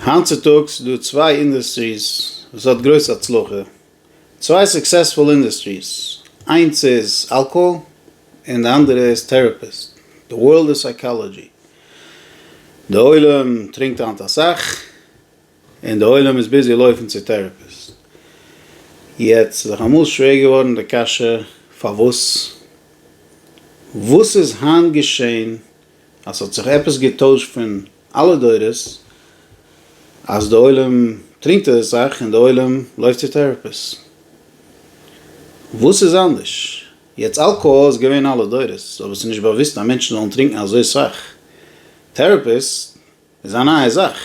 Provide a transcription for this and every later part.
היינט צוטאגס איז דא צוויי אינדוסטריס וואס האט גרויס הצלחה, צוויי סוקסעספול אינדוסטריס, איינס איז אלקאהאל און די אנדערע איז טעראפיסט, די ווארלד איז סייקאלאדזשי, די עולם טרינקט היינט אסאך און די עולם איז ביזי לויפן צו טעראפיסט, יעצט איז זיך אמאל שווער געווארן די קשיא פארוואס וואס איז היינט געשען אז ס'האט זיך עפעס געטוישט פון אלע דורות אז די עולם טרינקט אזוי סאך און די עולם לויפט צו טעראפיס. וואס איז אנדערש יעצט? אלקאהאל איז געווען אלע דורות אבער ס'איז נישט באוואוסט אז מענטשן זאלן טרינקן אזוי סאך. טעראפיס איז א נייע זאך.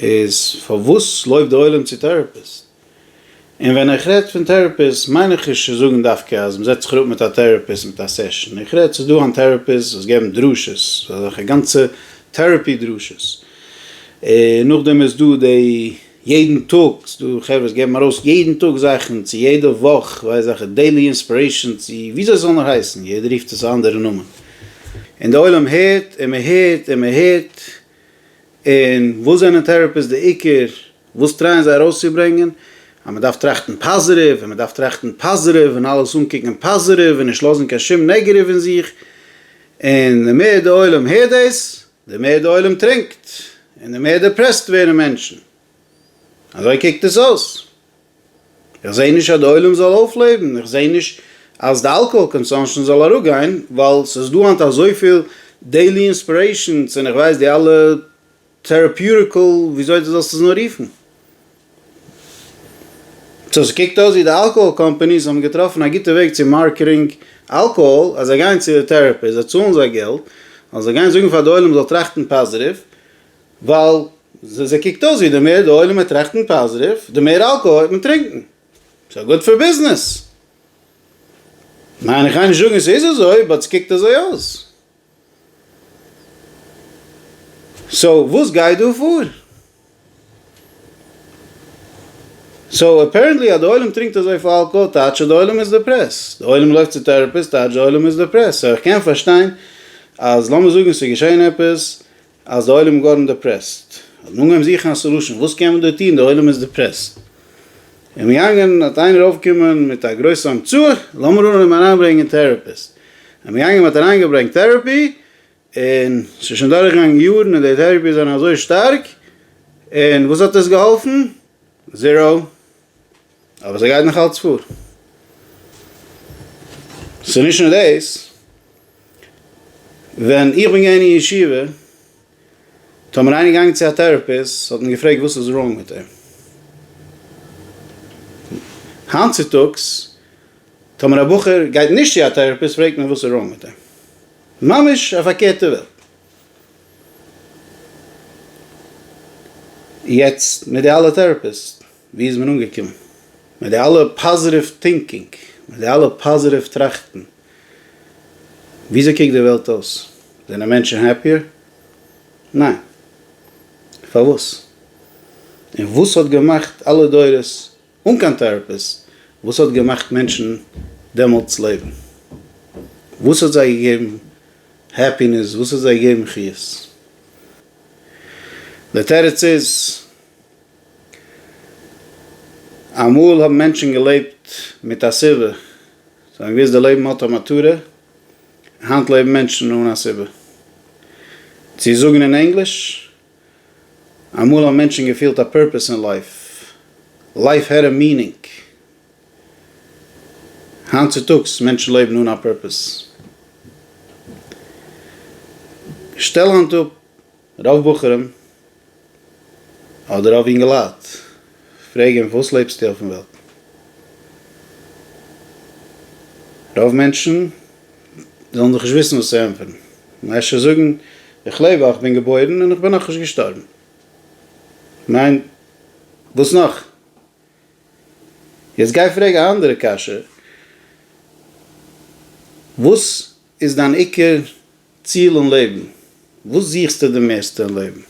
איז פארוואס לויפט די עולם צו טעראפיס? און ווען איך רעד פון טעראפיסט מיין איך נישט צו זאגן דווקא אז מ'זעצט זיך אראפ מיט א טעראפיסט מיט א סעשאן, איך רעד ס'איז דא אן טעראפיסט וואס געבן דרשות, אזעלכע גאנצע טעראפי דרשות, און נאכדעם איז דא די יעדן טאג, ס'איז דא חברה וואס געבן ארויס יעדן טאג זאכן, צו יעדע וואך ווייס איך וועלכע, דעילי אינספירעישאן צו וויאזוי ס'זאל נאר הייסן, יעדער רופט עס א אנדערע נאמען, און די עולם הערט און מ'הערט און מ'הערט, און וואס זענען טעראפיסט די עיקר וואס טרייען זיי ארויסצוברענגען? אז מען דארף טראכטן פאזעטיוו און מען דארף טראכטן פאזעטיוו און אלעס אנקוקן פאזעטיוו און נישט לאזן קיין שום נעגעטיוו אין זיך, און די מער די עולם הערט דאס די מער די עולם טרינקט און די מער דעפרעסט ווערן מענטשן. אזוי קוקט עס אויס. איך זעה נישט אז די עולם זאל אויפלעבן, איך זעה נישט אז די אלקאהאל קאנסאנשען זאל אראפגיין, ווייל ס'איז דא היינט אזויפיל דעילי אינספירעישענס און איך ווייס די אלע טעראפיוטיקעל וויאזוי די זאלסט עס נאר רופן. סאו ס'קוקט אויס ווי די אלקאהאל קאמפעניס האבן געטראפן א גוטע וועג צו מארקעטינג אלקאהאל אז זיי גייען צו טעראפי, זיי צאלן זיי געלט, אז זיי גייען זאגן פאר די עולם זאל טראכטן פאזיטיוו, ווייל זיי קוקט אויס ווי די מער די עולם וועט טראכטן פאזיטיוו די מער אלקאהאל וועט מען טרינקן, סאו גוד פאר ביזנעס. ניין איך גיי נישט זאגן ס'איז אזוי באט ס'קוקט אזוי אויס. סאו וואס גייט דא פאר? סאו אפערענטלי אז די עולם טרינקט אזויפיל אלקאהאל טייטש אז די עולם איז דעפרעסט, די עולם לויפט צו טעראפיסט טייטש די עולם איז דעפרעסט, סאו איך קען פארשטיין אז לאמיר זאגן ס'איז געשען עפעס אז די עולם גארן דעפרעסט, האט מען אנגעהויבן זוכן א סעלושען, וואס קען מען דא טון, די עולם איז דעפרעסט, און מ'געגאנגען האט איינער אויפגעקומען מיט א גרויסע המצאה, לאמיר אנהויבן אריינברענגען טעראפיסט, און מ'געגאנגען מ'האט אריינגעברענגט טעראפי, און ס'איז שוין דורכגעגאנגען יארן און די טעראפי זענען אזוי שטארק, און וואס האט עס געהאלפן? זיראו. אבער זיי גייט נאך אלץ פאר. ס'איז נישט נאר דאס, ווען איך בין געווען אין ישיבה, טאמער איינער געגאנגען צו א טעראפיסט האט מען געפרעגט וואס איז ראונג מיט אים. היינט צוטאגס טאמער א בחור גייט נישט צו א טעראפיסט פרעגט מען וואס איז ראונג מיט אים. ממש א פארקערטע וועלט. יעצט מיט די אלע טעראפיסט. ווי איז מען אנגעקומען? מיט די אלע פאזעטיוו טינקינג, מיט די אלע פאזעטיוו טראכטן, וויאזוי קוקט די וועלט אויס? זענען מענטשן העפיער? ניין. פארוואס? און וואס האט געמאכט אלע דורות, אן קיין טעראפיס, וואס האט געמאכט מענטשן דעמאלטס לעבן? וואס האט זיי געגעבן העפינעס? וואס האט זיי געגעבן חיות? די תירוץ איז. אמאל האבן מענטשן געלעבט מיט א סיבה, זיי האבן געוואוסט די לעבן האט א מטרה, היינט לעבן מענטשן אן א סיבה. צו זאגן אין ענגליש, אמאל האבן מענטשן געפילט א פורפעס אין לייף, לייף העט א מינינג, היינט צוטאגס מענטשן לעבן אן א פורפעס. שטעל היינט אפ. רוב בחורים אדער רוב אינגעלייט פרעגען וואס לעבסטו אויפן וועלט? רוב מענטשען זאלען דאך נישט וויסען וואס צו ענטפערען, מען אפשר זאגען איך לעב ווייל איך בין געבוירען און איך בין נאך נישט געשטארבען, כ'מיין וואס נאך? יעצט גיי פרעג א אנדערע קשיא, וואס? איז דיין עיקר ציל אין לעבן? וואס זוכסטו די מערסטע אין לעבן?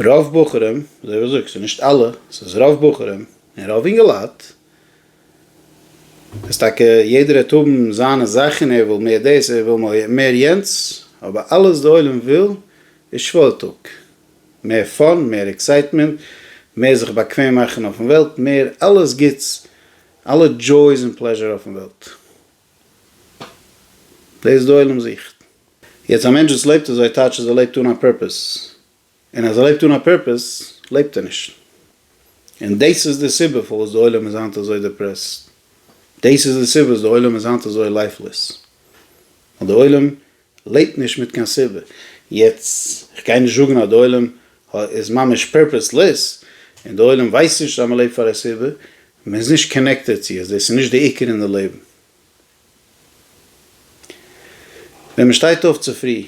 רוב בחורים, אזוי ווי זאגסט, ס'איז נישט אלע, ס'איז רוב בחורים, און רוב אינגעלייט, איז טאקע יעדער העט האבן זיינע זאכן, ער וויל מער דאס, ער וויל מער יענץ, אבער אלעס די עולם וויל איז שוואוילטאג, מער פאן, מער עקסייטמענט, מער זיך באקוועם מאכן אויפן וועלט, מער אלעס גוטס, אלע דזשויס און פלעזשור אויפן וועלט. דאס די עולם זוכט. יעצט א מענטש וואס לעבט אזוי טייטש אז ער לעבט אן א פורפעס, און אז ער לעבט אן א פורפעס לעבט ער נישט, און דאס איז די סיבה פארוואס די עולם איז היינט אזוי דעפרעסט, דאס איז די סיבה וואס די עולם איז היינט אזוי לייפלעס, ווייל די עולם לעבט נישט מיט קיין סיבה. יעצט איך גיי נישט זאגן אז די עולם איז ממש פערפעסלעס, און די עולם ווייסט נישט אז מ'לעבט פאר א סיבה, מען איז נישט קאנעקטעד צו עס, דאס איז נישט די עיקר אין די לעבן. ווען מען שטייט אויף צופרי,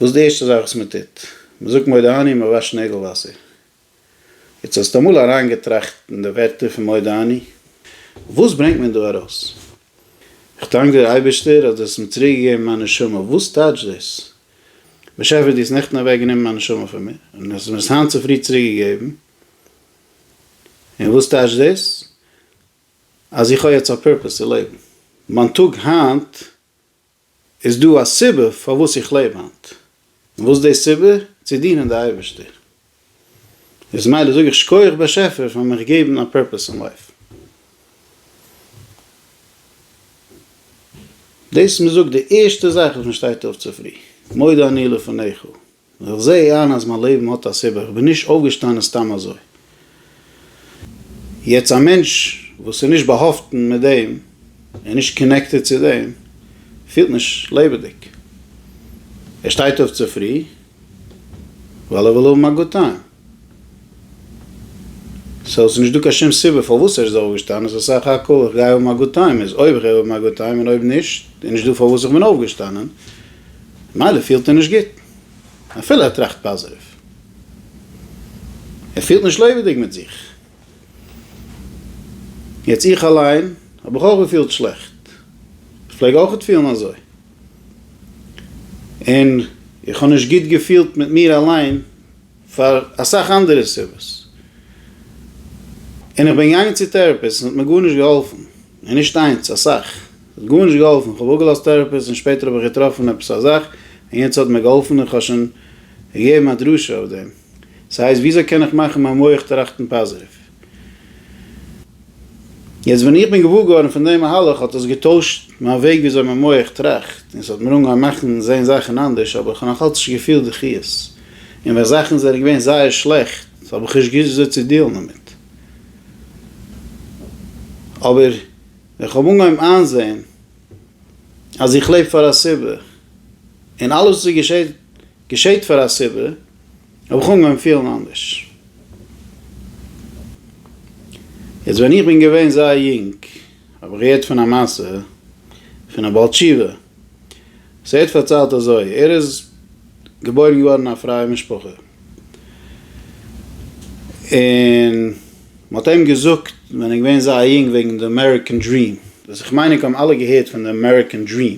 וואס איז די ערשטע זאך וואס מען טוט? מען זאגט מודה אני און מען וואשט נעגל וואסער. יעצט האסטו אמאל אריינגעטראכט אין די ווערטער פון מודה אני? וואס ברענגט מען דא ארויס? איך דאנק דיר אייבערשטער אז דו האסט מיר צוריק געגעבן מיין נשמה, וואס טייטש דאס? באשעפער דו האסט נעכטן אוועק גענומען מיין נשמה פון מיר, און האסט מיר עס היינט צופרי צוריק געגעבן, און וואס טייטש דאס? אז איך האב יעצט א פורפעס צו לעבן, מיין טאג היינט איז דא א סיבה פארוואס איך לעב היינט? און וואס איז די סיבה? צו דינען די אייבערשטער. איז מילא זאג איך שקויעך באשעפער פאר מיך געבן א פורפעס אין לייף. דאס איז מ'זאגט די ערשטע זאך וואס מ'שטייט אויף צופרי, מודה אני לפניך. און איך זע איין אז מיין לעבן האט א סיבה, כ'בין נישט אויפגעשטאנען סתם אזוי. יעצט א מענטש וואס איז נישט באהאפטן מיט דעם, און נישט קאנעקטעד צו דעם, פילט נישט לעבעדיג. ער שטייט אויף צופרי ווייל ער וויל האבן א גוד טיים. סאו ס'איז נישט דא קיין שום סיבה פארוואס ער איז אויפגעשטאנען, ס'איז סך הכל איך גיי האבן א גוד טיים, איז אויב איך גיי האבן א גוד טיים און אויב נישט איז נישט דא פארוואס איך בין אויפגעשטאנען, ממילא פילט ער נישט גוט אפילו ער טראכט פאזעטיוו, ער פילט נישט לעבעדיג מיט זיך, יעצט איך אליין האב איך אויך געפילט שלעכט, איך פלעג אויכעט פילן אזוי, און איך האב נישט גוט געפילט מיט מיר אליין. פאר אסאך אנדערע סיבות, און איך בין געגאנגען צו טעראפיסט און ס'האט מיר גארנישט געהאלפן, און נישט איינס, אסאך, ס'האט גארנישט געהאלפן, איך האב אפגעלאזט טעראפיסט און שפעטער האב איך געטראפן עפעס א זאך און יענץ האט מיר געהאלפן און כ'האב שוין געגעבן א דרשה אויף דעם, ס'הייסט וויאזוי קען איך מאכן מיין מח טראכטן פאזיטיוו? יעצט ווען איך בין געוואר געווארן פון דעם מהלך האט עס געטוישט מיין וועג וויאזוי מיין מח טראכט און ס'האט מיר אנגעהויבן מאכן זען זאכן אנדערש אבער כ'האב נאכאלץ נישט געפילט די חיות און ווען זאכן זענען געווען זייער שלעכט האב איך נישט געוואוסט וויאזוי צו דיעלן דערמיט אבער ווען כ'האב אנגעהויבן איינזען אז איך לעב פאר א סיבה און אלעס וואס געשעט געשעט פאר א סיבה. האב איך אנגעהויבן פילן אנדערש. יעצט ווען איך בין געווען זייער יונג האב איך געהערט פון א מעשה פון א בעל תשובה. ס'ער האט פארציילט אזוי, ער איז געבוירן געווארן אין א פרייע משפחה, און מ'האט אים געזאגט ווען ער איז געווען זייער יונג וועגן די אמעריקען דריעם. וואס איך מיין ענק האבן אלע געהערט פון די אמעריקען דריעם.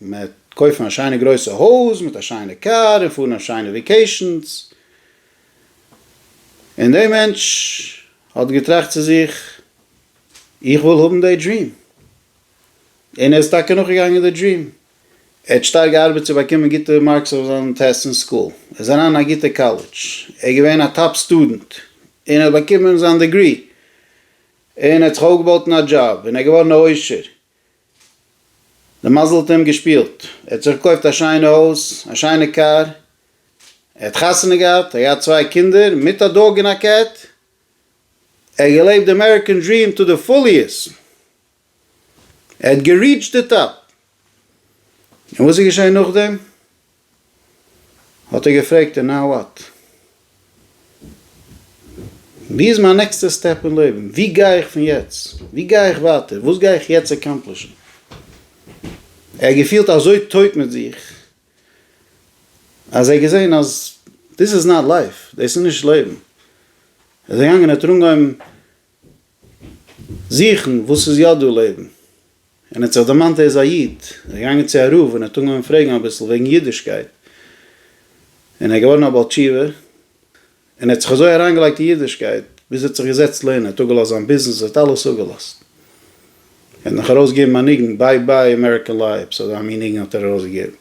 מ'עט קויפן א שיינע גרויסע הויז מיט א שיינע קאר און פארן אויף שיינע וועקעישאנס. און דעי מענטש האט געטראכט צו זיך, איך וויל האבן דעי דריעם. און ער איז טאקע נאכגעגאנגען די דריעם. ער האט שטארק געארבעט צו באקומען גוטע מארקס אויף זיין טעסט אין סקול. ער איז אריין אין א גוטע קאלעדזש. ער איז געווען א טאפ סטודענט. און ער האט באקומען זיין דעגרי. און ער האט זיך אויפגעבויט אין א דזשאב. און ער איז געווארן א עושר. די מזל האט אים געשפילט, ער האט זיך געקויפט א שיינע הויז, א שיינע קאר, ער האט חתונה געהאט, ער האט געהאט צוויי קינדער, מיט א דאג און א קעט, ער האט געלעבט די אמעריקען דריעם טו די פוליעסט, ער האט געריעטשט די טאפ, און וואס איז געשען נאכדעם? האט ער געפרעגט און נאו וואט? ווי איז מיין נעקסטע סטעפ אין לעבן? ווי גיי איך פון יעצט? ווי גיי איך ווייטער? וואס גיי איך יעצט עקאמפלישן? ער האט געפילט אזוי טויט מיט זיך אז ער האט געזען אז דיס איז נאט לייף, דאס איז נישט לעבן, ער איז געגאנגען ער האט אנגעהויבן זוכן וואס איז יא דא לעבן. און ער האט זיך דערמאנט ער איז א איד, ער איז געגאנגען צו א רב און ער האט אנגעהויבן פרעגן אביסל וועגן אידישקייט, און ער איז געווארן א בעל תשובה, און ער האט זיך אזוי אריינגעלייגט אין אידישקייט, ביז ער האט זיך געזעצט לערנען, ער האט אפגעלאזט זיין ביזנעס, ער האט אלעס אפגעלאזט, ער האט נאך ארויסגעגעבן א ניגון ביי ביי אמעריקען לייפס, אזא מין ניגון האט ער ארויסגעגעבן.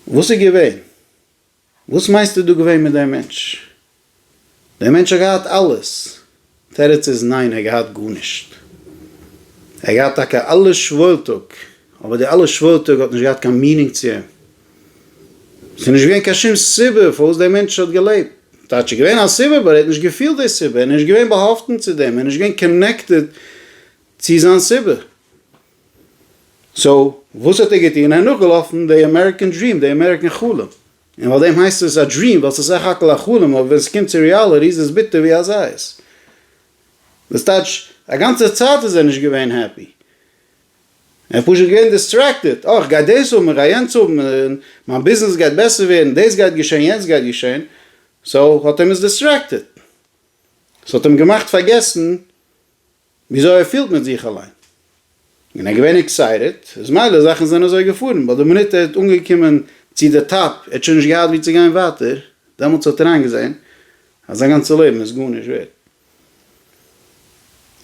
וואס איז געווען? וואס מיינסטו דא געווען מיט דעם מענטש? דער מענטש האט געהאט אלעס? תירוץ איז ניין ער האט געהאט גארנישט. ער האט געהאט טאקע אלע שוואוילטאג, אבער די אלע שוואוילטאג האט נישט געהאט קיין מינינג צו אים. ס'איז נישט געווען קיין שום סיבה פארוואס דער מענטש האט געלעבט. טייטש איז געווען א סיבה באט ער האט נישט געפילט די סיבה, ער איז נישט געווען באהאפטן צו דעם, ער איז נישט געווען קאנעקטעד צו זיין סיבה. סאו וואס האט ער געטון? ער איז נאכגעלאפן די אמעריקען דריעם, די אמעריקען חלום, און ווייל דעם הייסט עס א דריעם ווייל ס'איז סך הכל א חלום אבער ווען ס'קומט צו ריאלעטי איז עס ביטער ווי א זית. דאס טייטש א גאנצע צייט איז ער נישט געווען העפי, ער איז פשוט געווען דיסטרעקטעד, אוי כ'גיי דאס האבן, כ'גיי יענץ האבן, מיין ביזנעס גייט בעסער ווערן, דאס גייט געשען, יענץ גייט געשען, סאו האט אים עס דיסטרעקטעד, ס'האט אים געמאכט פארגעסן וויאזוי ער פילט מיט זיך אליין. און ער איז געווען עקסייטעד, איז מילא זאכן זענען אזוי געפארן, ביי די מינוט ער האט אנגעקומען צו די טאפ, ער האט שוין נישט געהאט ווי צו גיין ווייטער, דעמאלטס האט ער איינגעזען אז זיין גאנצע לעבן איז גארנישט ווערד.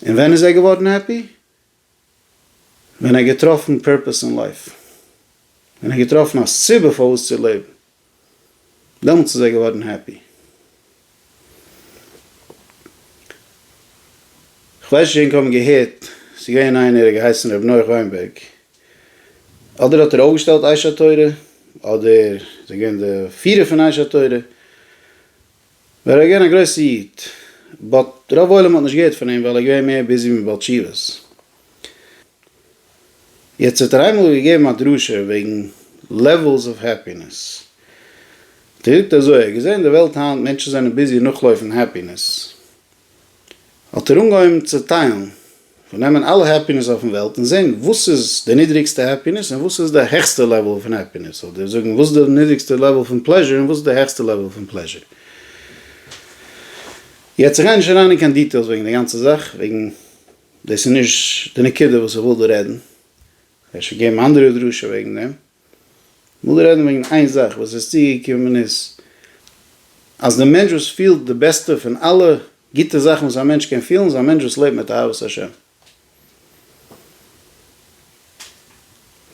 און ווען איז ער געווארן העפי? ווען ער האט געטראפן פערפעס אין לייף, ווען ער האט געטראפן א סיבה פארוואס צו לעבן. דעמאלטס איז ער געווארן העפי. כ'ווייס נישט ענק האבן געהערט ס'איז געווען איינער ער האט געהייסן ר' נח וויינבערג אדער האט ער אויפגעשטעלט אייש התורה אדער איז ער געווען די פירער פון אייש התורה ווער ער געווען א גרויסע איד באט רוב עולם האט נישט געהערט פון אים ווייל ער געווען מער ביזי מיט בעל תשובות. יעצט האט ער איינמאל געגעבן א דרשה וועגן לעוועלס אוו העפינעס, ער זאגט אזוי, ער האט געזען די וועלט היינט מענטשן זענען ביזי נאכלויפן העפינעס, האט ער אנגעהויבן צעטיילן, מ'זאל נעמען אלע העפינעס אויפן וועלט און זען וואס איז די נידריגסטע העפינעס און וואס איז די העכסטע לעוועל פון העפינעס, אדער זאגן וואס איז די נידריגסטע לעוועל פון פלעזשער און וואס איז די העכסטע לעוועל פון פלעזשער. יעצט איך גיי נישט אריין אין קיין דיטעילס וועגן די גאנצע זאך וועגן. דאס איז נישט די נקודה וואס איך וויל דא רעדן, אפשר געבן אנדערע דרשה וועגן דעם, איך וויל דא רעדן וועגן איין זאך וואס איז צוגעקומען איז, אז די מענטש וואס פילט די בעסטע פון אלע גוטע זאכן וואס א מענטש קען פילן איז א מענטש וואס לעבט מיט אהבת השם.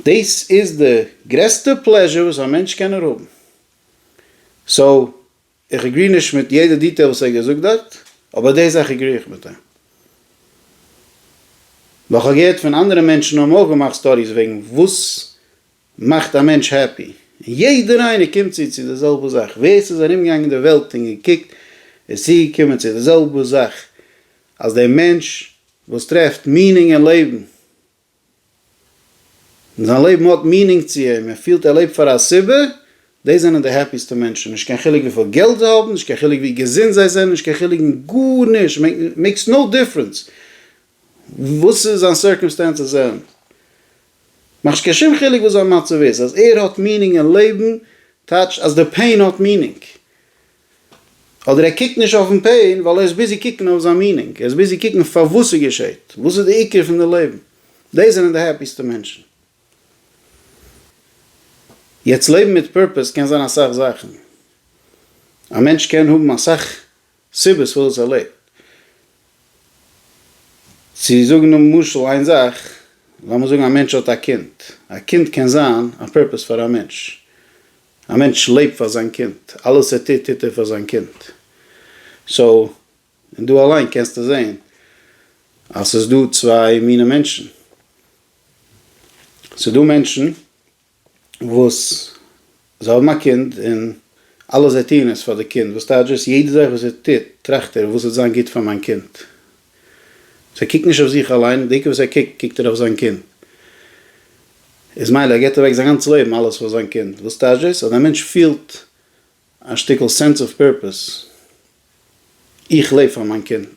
דאס איז די גרעסטע פלעזשער וואס א מענטש קען נאר האבן. סאו. איך עגרי נישט מיט יעדע דיטעיל וואס ער האט געזאגט דארט, אבער די זאך עגרי איך מיט אים. ווייל כ'האב געהערט פון אנדערע מענטשן האבן אויך געמאכט סטאדיס וועגן וואס מאכט א מענטש העפי, און יעדער איינער קומט צו צו די זעלבע זאך, ווער ס'איז ארומגעגאנגען אין די וועלט און געקוקט איז צוגעקומען צו די זעלבע זאך, אז דער מענטש וואס טרעפט מינינג אין לעבן און זיין לעבן האט מינינג צו אים, ער פילט ער לעבט פאר א סיבה, דאס זענען די העפיסטע מענטשן, נישט קיין חילוק וויפיל געלט זיי האבן, נישט קיין חילוק ווי געזונט זיי זענען, נישט קיין חילוק מיט גארנישט, מעיקס נאו דיפרענס וואס זיין סירקעמסטענסעס זענען, מאכט נישט קיין שום חילוק וואס זיין מצב איז, אז ער האט מינינג אין לעבן טייטשט אז די פעין האט מינינג, אדער ער קוקט נישט אויפן פעין ווייל ער איז ביזי קוקן אויף זיין מינינג, ער איז ביזי קוקן פארוואס ס'געשעהט, וואס איז די עיקר פון די לעבן, דאס זענען די העפיסטע מענטשן. יעצט לעבן מיט פורפעס קען זיין אסאך זאכן, א מענטש קען האבן אסאך סיבות פארוואס ער לעבט, צו זאגן למשל איין זאך, לאמיר זאגן א מענטש האט א קינד, א קינד קען זיין א פורפעס פאר א מענטש, א מענטש לעבט פאר זיין קינד, אלעס ער טוט טוט ער פאר זיין קינד, סאו און דא אליין קענסטו זעהן אז ס'איז דא צוויי מיני מענטשן, ס'איז דא מענטשן וואס זיי האבן א קינד און אלעס זיי טוען איז פאר די קינד, וואס טייטש דאס? יעדע זאך וואס ער טוט טראכט ער וואס וועט זיין גוט פאר מיין קינד, זיי קוקט נישט אויף זיך אליין, דיקא וואס ער קוקט, קוקט ער אויף זיין קינד. איז מילא ער געט אוועק זיין גאנץ לעבן אלעס פאר זיין קינד, וואס טייטש דאס? אז דער מענטש פילט א שטיקל סענס אוו פערפעס, איך לעב פאר מיין קינד.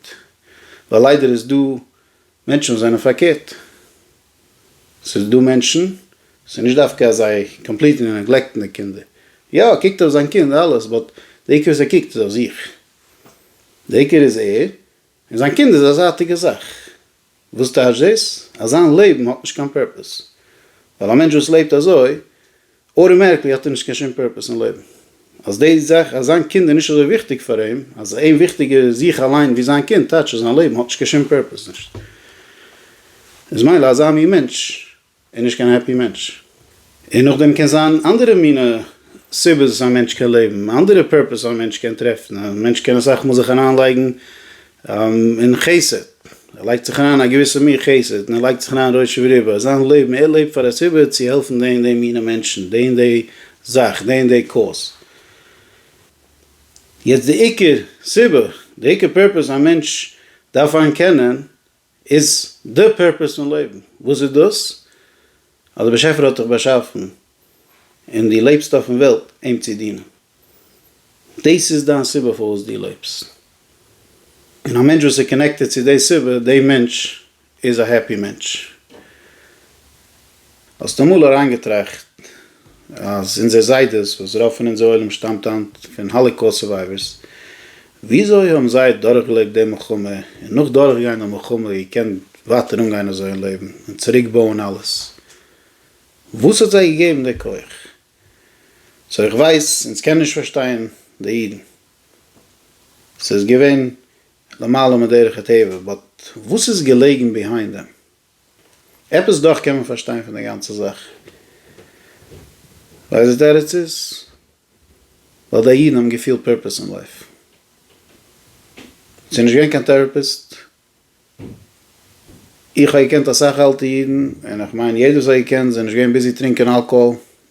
ווייל ליידער איז דא מענטשן וואס זענען פארקערט. ס'איז דא מענטשן, ס'איז נישט דווקא אז זיי קאמפליטלי נעגלעקטן די קינדער. יא, ער קוקט אויף זיין קינד אלעס, באט די עיקר וואס ער קוקט איז אויף זיך. די עיקר איז ער, און זיין קינד איז א זייטיגע זאך. וואס טייטש דאס? אז זיין לעבן האט נישט קיין פורפעס. ווייל א מענטש וואס לעבט אזוי, אוטומעטיקלי האט ער נישט קיין שום פורפעס אין לעבן. אז די זאך אז זיין קינד איז נישט אזוי וויכטיג פאר אים, אז אים וויכטיג איז זיך אליין ווי זיין קינד, טייטש אז זיין לעבן האט נישט קיין שום פורפעס נישט. איז מילא אזא מין מענטש. און נישט קיין העפי מענטש. און נאכדעם קען זיין אנדערע מינע סיבות וואס א מענטש קען לעבן, אנדערע פערפעס א מענטש קען טרעפן, א מענטש קען אסאך מאל זיך אריין לייגן אין חסד, ער לייגט זיך אריין א געוויסע מין חסד, און ער לייגט זיך אריין ראש וריבו אז זיין לעבן, ער לעבט פאר א סיבה צו העלפן די און די מינע מענטשן, די און די זאך, די און די קאוז. יעצט די עיקר סיבה, די עיקר פערפעס א מענטש דארף איין קענען, איז די פורפעס פון לעבן, וואס איז דאס? אז דער באשעפער האט דיך באשאפן און דו לעבסט אויפן וועלט אים צו דינען. דאס איז דיין סיבה פארוואס דו לעבסט. און א מענטש וואס איז קאנעקטעד צו די סיבה, די מענטש איז א העפי מענטש. האסט אמאל אריינגעטראכט אז אונזער זיידעס, וואס רוב פון אונזער עולם שטאמט היינט פון האליקאוסט סורווייווערס, וויאזוי האבן זיי דורכגעלעבט די מלחמה, און נאך דורכגיין די מלחמה געקענט ווייטער אנגיין אזוי אין לעבן, און צוריקבויען אלעס? וואס האט זיי געגעבן די כח? סאו איך ווייס אונז קענען נישט פארשטיין די אידן, ס'איז געווען למעלה מדרך הטבע, באט וואס איז געלעגן ביהיינד דעם? עפעס דאך קען מען פארשטיין פון די גאנצע זאך. ווייסט די תירוץ איז ווייל די אידן האבן געפילט פורפעס אין לייף. ס'איז נישט געווען קיין טעראפיסט. איך האב געקענט אסאך אלטע אידן, און איך מיין יעדער וואס האט געקענט זיי איז נישט געווען ביזי טרינקען אלקאהאל.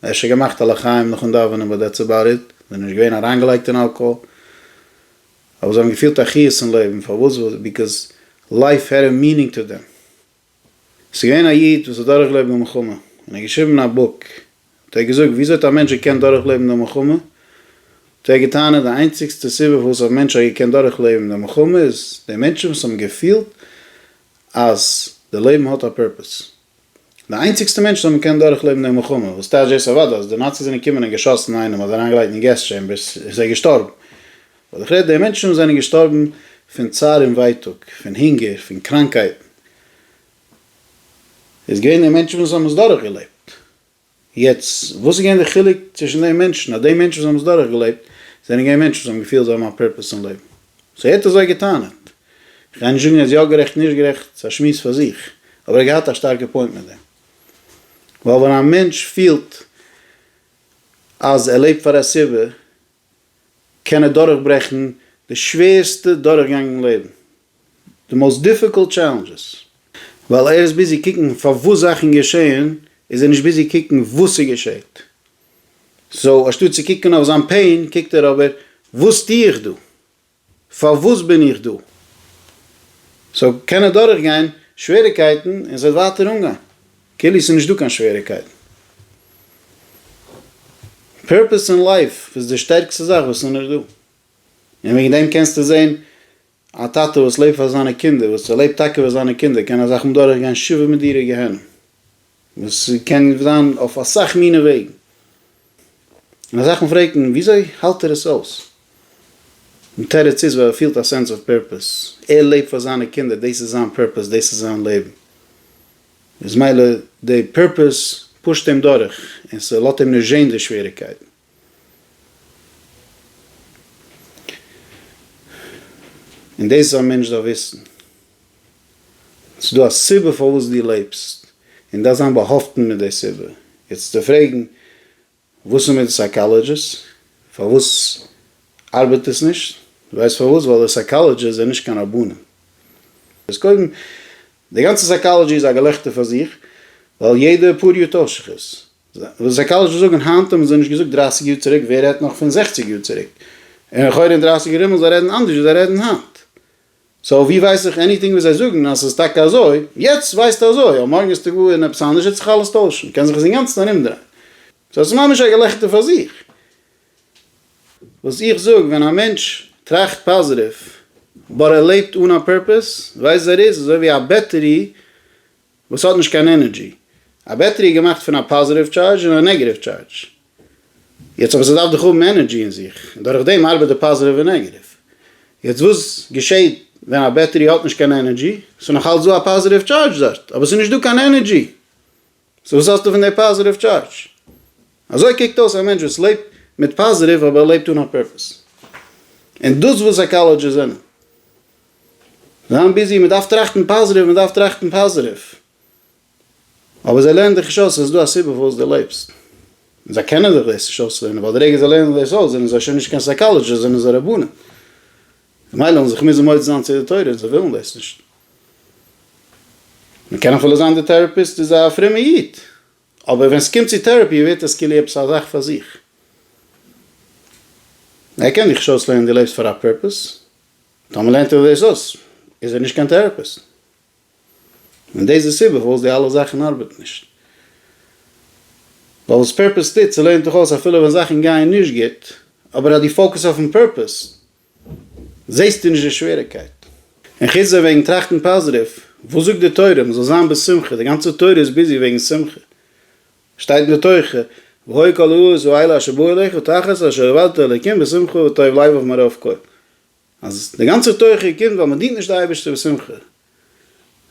אפשר געמאכט א לחיים נאכן דאווענען באט דעטס עבאוט איט. זיי זענען נישט געווען אריינגעלייגט אין אלקאהאל. אבער זיי האבן געפילט א חיות אין לעבן, פארוואס? ביקאוז לייף העד א מינינג טו דעם. עס איז געווען א איד וואס האט דורכגעלעבט די מלחמה, און ער האט געשריבן א בוק, האט ער געזאגט וויאזוי האט א מענטש געקענט דורכלעבן די מלחמה, האט ער געטענה'ט די איינציגסטע סיבה פארוואס א מענטש האט געקענט דורכלעבן די מלחמה איז די מענטשן וואס האבן געפילט אז די לעבן האט א פורפעס, די איינציגסטע מענטשן וואס האבן געקענט דורכלעבן די מלחמה וואס טייטש דאס אוודאי אז די נאציס זענען געקומען און געשאסן איינעם אדער אריינגעלייגט אין געז טשעמבערס איז ער געשטארבן וואס איך רעד די מענטשן זענען געשטארבן פון צער און ווייטאג פון הונגער פון קראנקייטן איז געווען די מענטשן וואס האבן עס דורכגעלעבט. יעצט, וואס איז געווען די חילוק צווישן די מענטשן, אז די מענטשן וואס האבן עס דורך געלעבט, זענען געווען מענטשן וואס האבן געפילט זיי האבן א פורפעס אין לעבן. סאו ער האט אזוי גע'טענה'ט. איך גיי נישט זאגן ער איז יא גערעכט נישט גערעכט, ס'איז א שמועס פאר זיך, אבער ער האט געהאט א שטארקע פוינט מיט דעם. ווייל ווען א מענטש פילט אז ער לעבט פאר א סיבה, קען ער דורכברעכן די שווערסטע דורכגענג אין לעבן, די מאוסט דיפיקולט טשעלענדזשעס, ווייל ער איז ביזי קוקן פארוואס זאכן געשעהן, איז ער נישט ביזי קוקן וואס ס'געשעהט, סאו אנשטאט צו קוקן אויף זיין פעין קוקט ער אבער וואס טוה איך דא? פארוואס בין איך דא? סאו קען ער דורכגיין שוועריקייטן און זיי ווייטער אנגיין כאילו ס'איז נישטא קיין שוועריקייטן. פערפעס אין לייף איז די שטערקסטע זאך וואס איז נישט דא. און וועגן דעם קענסטו זען א טאטע וואס לעבט פאר זיינע קינדער, וואס ער לעבט טאקע פאר זיינע קינדער, קען ער זיך האבן דורכגיין שבעה מדירי גיהנום. וואס קען זיין אויף אסאך מיני וועגן, און אסאך מאל פרעגט מען וויאזוי האלט ער עס אויס? די תירוץ איז ווייל ער פילט א סענס אוו פערפעס, ער לעבט פאר זיינע קינדער, דאס איז זיין פערפעס, דאס איז זיין לעבן, איז מילא די פערפעס פושט אים דורך, און ס'לאזט אים נישט זען די שוועריגקייטן. און דאס איז א מענטש דארף וויסן. ס'איז דא א סיבה פארוואס דו לעבסט, און דארף זיין באהאפטן מיט די סיבה. יעצט צו פרעגן וואס איז מיט די סייקאלעדזשיסט, פארוואס ארבעט עס נישט, ווייסט פארוואס? ווייל די סייקאלעדזשיסט זענען נישט קיין רבנים. דאס קודם. די גאנצע סייקאלעדזשי איז א געלעכטער פאר זיך, ווייל יעדע פאר יו ט שכות וואס סייקאלעזשער זאגן היינט האבן זיי נישט געזאגט דרייסיג יאר צוריק, ווער רעדט נאך פון זעכציג יאר צוריק, און לכאורה אין דרייסיג ארום וועלן זיי רעדן אנדערש ווי זיי רעדן היינט, סאו ווי ווייס איך עניטינג וואס זיי זאגן אז ס'איז טאקע אזוי, יעצט ווייסטו אזוי, אבער מארגן איז טאג און עפעס אנדערש וועט זיך אלעס טוישן, קען זיך עס אינגאנצן ארומדרייען, סאו עס איז ממש א געלעכטער פאר זיך. וואס איך זאג, ווען א מענטש טראכט פאזיטיוו באט ער לעבט אן א פורפעס, ווייזט ער איז אזוי ווי א בעטערי, וואס האט נישט קיין ענערדזשי. א בעטערי איז געמאכט פון א פאזעטיוו טשארדזש און א נעגעטיוו טשארדזש. יעצט אבער ס'דארף דאך האבן ענערדזשי אין זיך, און דורך דעם ארבעט די פאזעטיוו און נעגעטיוו. יעצט וואס געשעהט ווען א בעטערי האט נישט קיין ענערדזשי? ס'איז נאך אלץ דא א פאזעטיוו טשארדזש דארט, אבער ס'איז נישט דא קיין ענערדזשי. סאו וואס האסטו פון די פאזעטיוו טשארדזש? אזוי קוקט אויס א מענטש וואס לעבט מיט פאזעטיוו אבער ער לעבט אן א פורפעס. און דאס וואס סייכאלעדזשיסט זענען. זיין ביזי, מ'דארף טראכטן פאזיטיוו, מ'דארף טראכטן פאזיטיוו. אבער זיי לערנען דיך נישט אויס אז ס'איז דא א סיבה פארוואס דו לעבסט. און זיי קענען דיך דאס נישט אויסלערנען, ווייל די רגע זיי לערנען דאס אויס זענען זיי שוין נישט קיין סייקאלעדזשיסט, זענען זיי רבנים. ממילא וועלן זיך מוזן מודה זיין צו די תורה, און זיי ווילן דאס נישט. מ'קען אפילו זיין די טעראפיסט איז א פרומע איד, אבער ווען ס'קומט צו טעראפי ווערט עס כאילו עפעס א זאך פאר זיך. ער קען דיך נישט אויסלערנען דו לעבסט פאר א פורפעס. טאמער לערנט ער דאס אויס איז ער נישט קיין טעראפיסט, און דאס איז די סיבה פארוואס די אלע זאכן ארבעטן נישט, ווייל וואס פערפעס טוט ס'לערנט דיך אויס אפילו ווען זאכן גייען נישט גוט, אבער אז דו פאוקעס אויפן פערפעס זעסטו נישט די שוועריקייט. און חוץ דעם וועגן טראכטן פאזיטיוו, וואס זאגט די תורה? מ'זאל זיין בשמחה, די גאנצע תורה איז ביזי וועגן שמחה, שטייט בתוכה והוי כל העולות והאלה אשר באו אליך תחת אשר עבדת אלקים בשמחה וטוב לב ומרוב כל. אז די גאנצע תוכחה קומט ווייל מען דינט נישט די אייבערשטער בשמחה,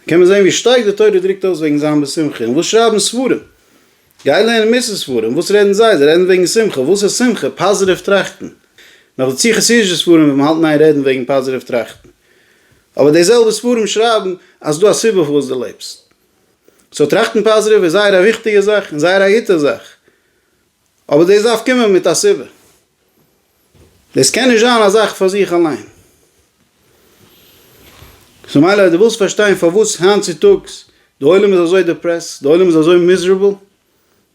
קען מען זען ווי שטארק די תורה דרוקט אויס וועגן זיין בשמחה, און וואס שרייבן ספרים? גיי לערן מוסר ספרים, וואס רעדן זיי? זיי רעדן וועגן שמחה, וואס איז שמחה? פאזעטיוו טראכטן, נאך דערצו חסידישע ספרים וועט מען האלטן איין רעדן וועגן פאזעטיוו טראכטן, אבער די זעלבע ספרים שרייבן אז ס'דא א סיבה פארוואס דו לעבסט, סאו טראכטן פאזעטיוו איז זייער א וויכטיגע זאך און זייער א גוטע זאך, אבער דאס דארף קומען מיט א סיבה, דאס קען נישט זיין א זאך פאר זיך אליין. סאו מילא אז דו ווילסט פארשטיין פארוואס היינט צו טאגס די עולם איז אזוי דעפרעסט, די עולם איז אזוי מיזערעבל,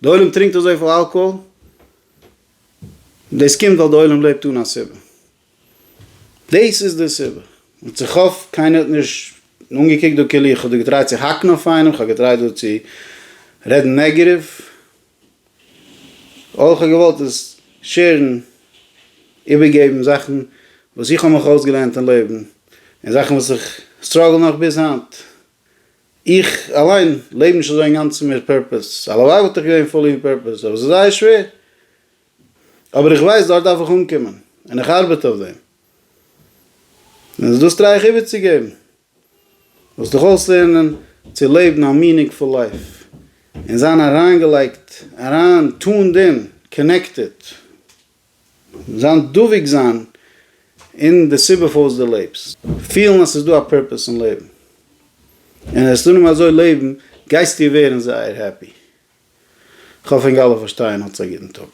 די עולם טרינקט אזויפיל אלקאהאל, דאס קומט ווייל די עולם לעבט אן א סיבה. דאס איז די סיבה. און איך האף קיינער האט נישט אנגעקוקט דא כאילו איך האב דא געטרייט צו האקן אויף איינעם, איך האב געטרייט דא צו רעדן נעגעטיוו. אויך האב איך געוואלט עס שעירן, איבערגעבן זאכן וואס איך האב מיך אויסגעלערנט אין לעבן, און זאכן וואס איך סטראגל נאך ביז היינט. איך אליין לעב נישט אזוי אינגאנצן מיט פערפעס, הלוואי וואלט איך געווען פולי אין פערפעס, אבער עס איז זייער שווער. אבער איך ווייס דארט דארף איך אנקומען און איך ארבעט אויף דעם און עס דאס טריי איך איבערצוגעבן, זאלסט דיך אויסלערנען צו לעבן א מינינגפול לייף און זיין אריינגעלייגט אריין טונד אין, קאנעקטעד, זיין דבוק זיין אין די סיבה פארוואס דו לעבסט, פילן אז ס'איז דא א פורפעס אין לעבן. און העסטו נאר אזוי לעבן גייסטו ווערן זייער העפי. כ'האף ענק אלע פארשטייען. האטס א גוטן טאג.